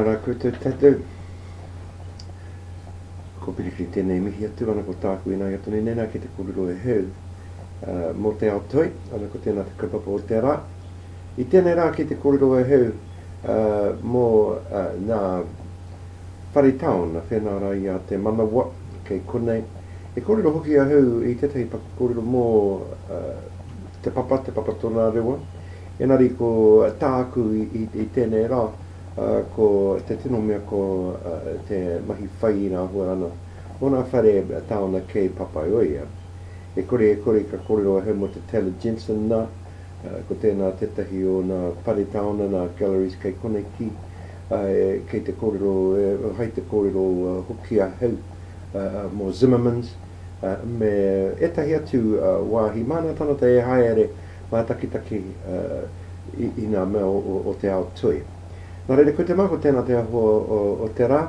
Ara koutou tatou. Ko Pirikiri tenei mihi atu ana ko taku ina ia tonu nei na ki te korero e heu mo te ao toi ana ko tena te kaupapa o te ara i tenei ra ki te korero e heu mō ngā whare taona whenā rā i a Te Manawa, kei konei. I kōrero hoki ahau i tētahi paku kōrero mō te papa, te papa tōna rewa. Engari ko tāku i tēnei rā, ko te tino mea ko te mahi whai i ngā huaranga o ngā whare taona kei Papaioea. E kore e kore ka kōrero ahau mō te Taylor Jensen nā. Ko tēnā tētahi o nā pare taona, nā galleries kei koneki, āe, kei te kōrero, hai te kōrero hoki ahau mō Zimmermans, me ētahi atu wāhi mānatanata e haere mātakitaki i nā mea o te ao toi. Nā reira, ko te mā, ko tēnā te aho o te rā,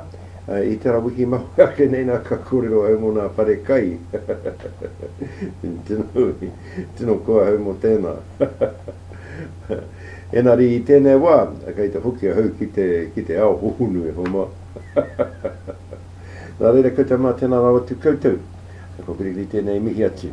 i tērā wiki mahue ake nei nā ka kōrero au mō nā pare kai. Tino koahau mo tena. Enari i tenei wa, kei te hoki ahau ki te, ki te ao hohonu e Homa. Na reira koutou ma tena rawa atu koutou. Ko Gregly tenei i mihi atu.